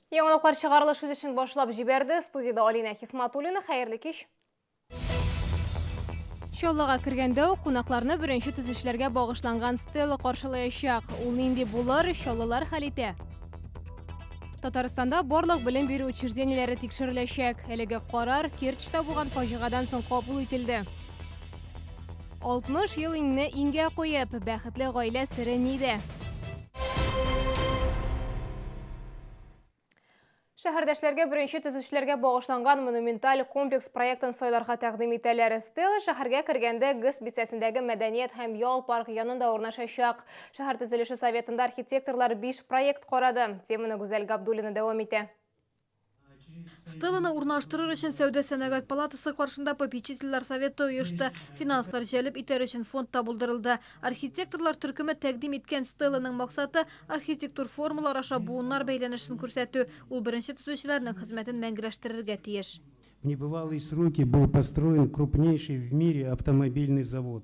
Яңалыклар чыгарылыш үз өчен башлап җибәрде. Студияда Алина Хисматуллина. Хәерле кич. Чаллыга кергәндә үк кунакларны беренче төзүчеләргә багышланган стела каршылаячак. Ул нинди булыр, чаллылар хәл итә. Татарстанда барлык белем бирү учреждениеләре тикшереләчәк. Әлеге карар Керчьтә булган фаҗигадан соң кабул ителде. 60 ел иңне иңгә куеп, бәхетле гаилә сере нидә? Шәһәрдәшләргә беренче төзүчеләргә багышланган монументаль комплекс проектын сайларга тәкъдим итәләр. Стелла шәһәргә кергәндә ГИС бистәсендәге мәдәният һәм ял парк янында урнашачак. Шәһәр төзелеше советында архитекторлар биш проект карады. Теманы Гүзәл Габдуллина дәвам итә. Стелланы урнаштырыр өчен сәүдә сәнәгать палатасы каршында попечительләр советы оешты. Финанслар җәлеп итәр өчен фонд та булдырылды. Архитекторлар төркеме тәкъдим иткән стелланың максаты архитектур формалар аша буыннар бәйләнешен күрсәтү. Ул беренче төзүчеләрнең хезмәтен мәңгеләштерергә тиеш. В небывалые сроки был построен крупнейший в мире автомобильный завод.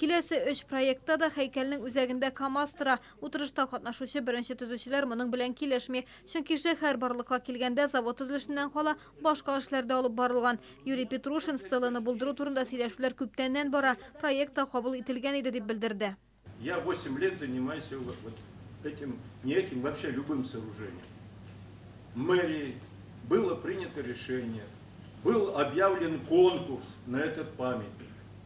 Киләсе өч проектта да һәйкәлнең үзәгендә КАМАЗ тора. Утырышта катнашучы беренче төзүчеләр моның белән килешми. Чөнки шәһәр барлыкка килгәндә завод төзелешеннән кала, башка эшләр дә алып барылган. Юрий Петрушин стеланы булдыру турында сөйләшүләр күптәннән бара, проект та кабул ителгән иде, дип белдерде. Я восемь лет занимаюсь вот этим, не этим, вообще любым сооружением. Мэрией было принято решение, был объявлен конкурс на этот памятник.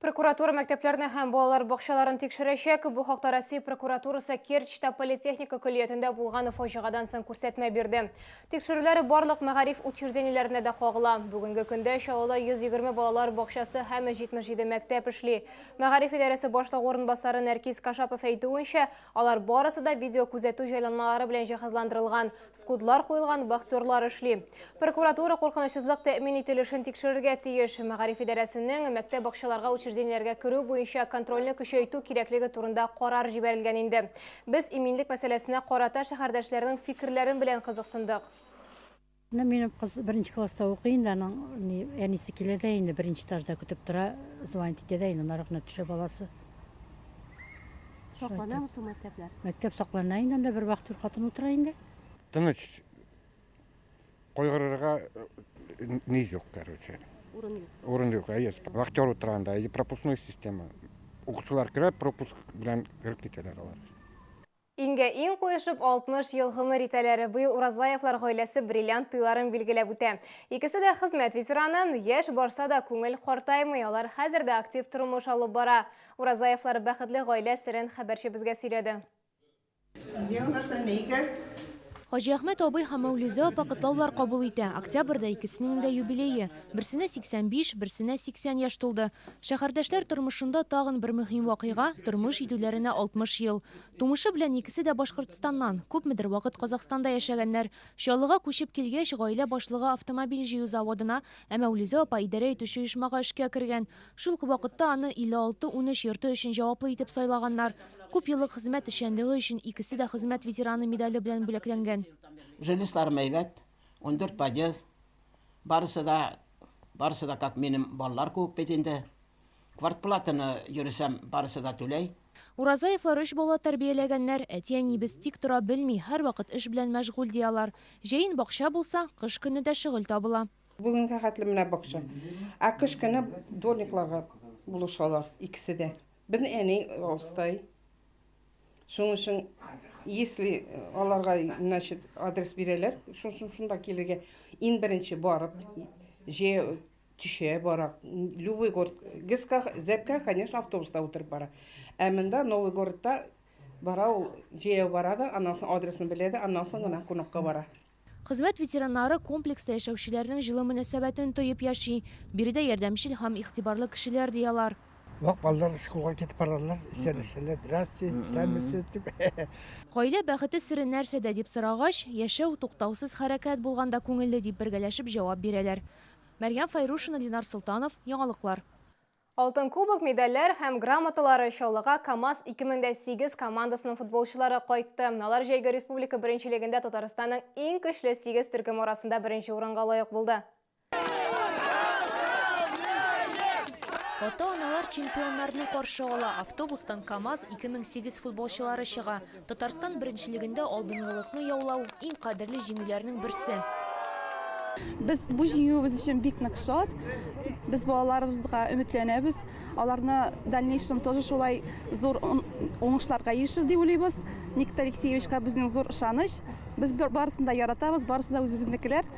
Прокуратура мәктәпләрне һәм балалар бакчаларын тикшерәчәк. Бу хакта Россия прокуратурасы Керчьта политехника көллиятендә булган фаҗигадан соң күрсәтмә бирде. Тикшерүләр барлык мәгариф учреждениеләренә дә кагыла. Бүгенге көндә Чаллыда 120 балалар бакчасы һәм 77 мәктәп эшли. Мәгариф идарәсе башлыгы урынбасары Нәркис Кашапов әйтүенчә, алар барысы да видеокүзәтү җайланмалары белән җиһазландырылган. Скудлар куелган, бахтерлар эшли. Прокуратура куркынычсызлык тәэмин ителешен тикшерергә тиеш. Мәгариф идарәсенең мәктәп бакчаларга учреждениеләргә керү буенча контрольне көчәйтү кирәклеге турында карар җибәрелгән инде. Без иминлек мәсьәләсенә карата шәһәрдәшләрнең фикерләрен белән кызыксындык. Менә минем кыз беренче класста укый инде, аның әнисе килә дә инде, беренче этажда көтеп тора, звонить итә дә инде, нарыкны төшә баласы. Сакланамы соң мәктәпләр? Мәктәп саклана инде, анда бер вахтер хатын утыра инде. Тыныч. Кайгырырга ни юк, короче. Урын юк. Урын юк, әйе. Вахтер утыра анда, әйе, пропускной система. Укучылар керә, пропуск белән кереп китәләр алар. Иңгә иң куешып 60 ел гомер итәләр. Быел Уразлаевлар гаиләсе бриллиант туйларын билгеләп үтә. Икесе дә хезмәт ветераны, яшь барса да күңел картаймый, алар хәзер дә актив тормыш алып бара. Уразаевлар бәхетле гаилә серен хәбәрчебезгә сөйләде. Хаҗиәхмәт абый һәм Мәүлизә апа котлаулар кабул итә. Октябрьдә икесенең дә юбилее. Берсенә 85, берсенә 80 яшь тулды. Шәһәрдәшләр тормышында тагын бер мөһим вакыйга, тормыш җитүләренә 60 ел. Тумышы белән икесе дә Башкортстаннан. Күпмедер вакыт Казахстанда яшәгәннәр. Чаллыга күчеп килгәч, гаилә башлыгы автомобиль җыю заводына, ә Мәүлизә апа идарә итүче оешмага эшкә кергән. Шул ук вакытта аны 56 унөч йорты өчен җаваплы итеп сайлаганнар. Күп еллык хезмәт эшчәнлеге өчен икесе дә Хезмәт ветераны медале белән бүләкләнгән. Жилисларым әйбәт, ундүрт подъезд. Барысы да, барысы да как минем балалар кебек бит инде. Квартплатаны, йөресәм, барысы да түләй. Уразаевлар өч бала тәрбияләгәннәр. Әти-әниебез тик тора белми, һәрвакыт эш белән мәшгуль, ди алар. Җәен бакча булса, кыш көне дә шөгыль табыла. Бүгенгә хәтле менә бакча. Ә кыш көне дворникларга булышалар икесе дә. Безнең әни остай. Шуның өчен, если аларга, значит, адрес бирәләр, шуның шунда килергә. Ин беренче барып, же төшә бара. Любой город. Гыска, зәпкә, конечно, автобуста утырып бара. Ә монда Новый городта бара ул, җәяү бара да, аннан соң адресын белә дә, аннан соң гына кунакка бара. Хезмәт ветераннары комплекста яшәүчеләрнең җылы мөнәсәбәтен тоеп яши, биредә ярдәмчел һәм игътибарлы кешеләр, ди алар. Вак балалар шкулга китеп баралар, исәнләшәләр, здрасте, исәнмесез, дип. Гаилә бәхете сере нәрсәдә, дип сорагач, яшәү, туктаусыз хәрәкәт булганда күңелле, дип бергәләшеп җавап бирәләр. Мәрьям Файрушина, Ленар Солтанов, Яңалыклар. Алтын кубок, медальләр һәм грамоталары Чаллыга КАМАЗ 2008 командасының футболчылары кайтты. Алар җәйге республика беренчелегендә Татарстанның иң көчле 8 төркеме арасында беренче урынга лаек булды. Ата-аналар чемпионнарны каршы ала. Автобустан КАМАЗ 2008 футболчылары чыга. Татарстан беренчелегендә алдынгылыкны яулау, иң кадерле җиңүләрнең берсе. Без бу җиңүебез өчен бик нык шат. Без балаларыбызга өметләнәбез. Аларны дальнейшем тоже шулай зур уңышларга ирешер дип уйлыйбыз. Никита Алексеевичка безнең зур ышаныч. Без барысын да яратабыз, барысы да үзебезнекеләр.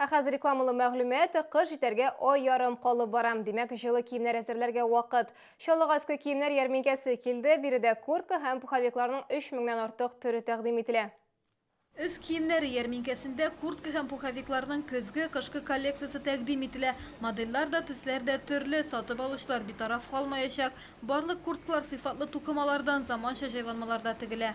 Ә хәзер рекламалы мәгълүмат, кыш җитәргә ай ярым калып бара, димәк, җылы киемнәр әзерләргә вакыт. Чаллыга өске киемнәр ярминкәсе килде, биредә куртка һәм пуховикларның 3 меңнән артык төре тәкъдим ителә. Өс киемнәре ярминкәсендә куртка һәм пуховикларның көзге, кышкы коллекциясе тәкъдим ителә. Модельләр дә, төсләр дә төрле, сатып алучылар битараф калмаячак. Барлык курткалар сыйфатлы тукымалардан, заманча җайланмаларда тегелә.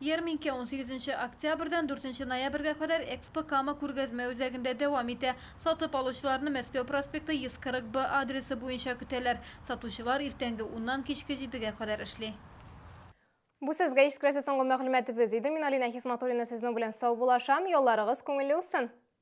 Ярминкә унсигезенче октябрьдән дүртенче ноябрьгә кадәр Экспо Кама күргәзмә үзәгендә дәвам итә. Сатып алучыларны Мәскәү проспекты 140 Б адресы буенча көтәләр. Сатучылар иртәнге уннан кичке җидегә кадәр эшли. Бу сезгә искрәсе соңгы мәгълүматыбыз иде. Мин Алинә Хисматуллина сезнең белән саубуллашам. Ялларыгыз күңелле узсын!